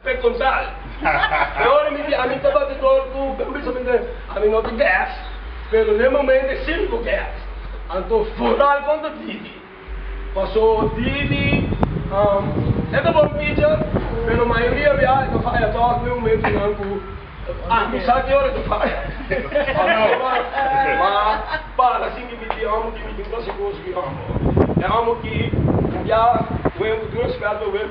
Preguntal, Ahora mi di ami ta batidor cu un pensamiento den ami no tin gas, pero n'e momento e sirbi cu gas. Anto vooral con ta Didi. Paso Didi e ta bon ticha, pero mayoria bia e ta faya toch n'e momentonan cu ami sa ki ora e ta faya. Ma para sin di mi di amo ki mi tin clase cos cu i amo. E amo ki bia wen cu tin respeto wen.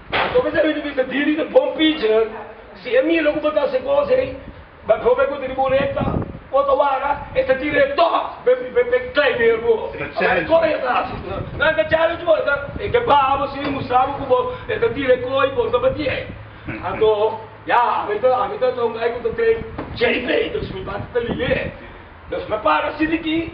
Anto mester bai dubita diri ta bon pitcher, si e mira ku bo ta hasi kos ei, bajove ku ta di bo rekta o ta wara, e ta tira e tòk be klai neer bo. Ahora e koi e ta hasi, nan e ta challenge bo, e ta baha bo sin mustra bo ku bo ta tira e koi, bo no ta bati ei. Anto ya ami ta ami ta un gai ku ta train JJ, dus mi bati ta liga ei. Dos mi a para sidiki.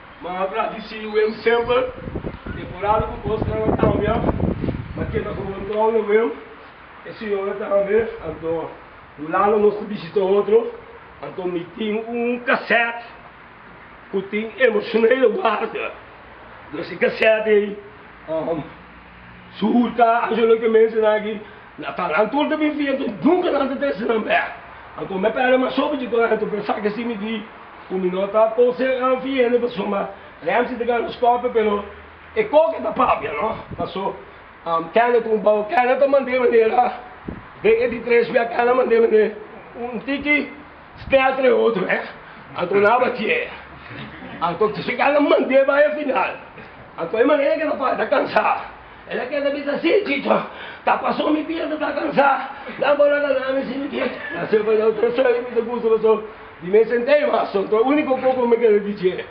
Ma habla di si wen semper e por habi ku kosnan a kambia, ma keda ku bon tòg na wen. E siñora ta hamber, anto Hulanda nos ta bishita otro, anto mi tin un kasèt ku tin Emotionele Waarde. Nos e kasèt ei. Su urta anjo loke mensena aki, na talantu un ta bin fiertu, nunka nan ta trese nan bek. Anto mi a perde mas sopi di talantu, pensa ke si mi di ku mi no ta konsehanan fin hende pasobra mi a Ramsey ta gana skopia pero e koke ta papia no, paso kende ku bou kende ta mande manera den e di tres bia kende mande mande un tiki. Stel tre otro eh. Anto nan a ba tjee. Anto ta sheka nan mande bai a final. Anto e manera ke ta para ta kansa. El a keda bisa si Chicho, ta paso mi pierna ta kansa. Nan por a gana mi si mi kier. Nan sempre nan ta sa mi ta gusta paso di mes sentei mas. Anto e uniko kos ku mi keda di tjee.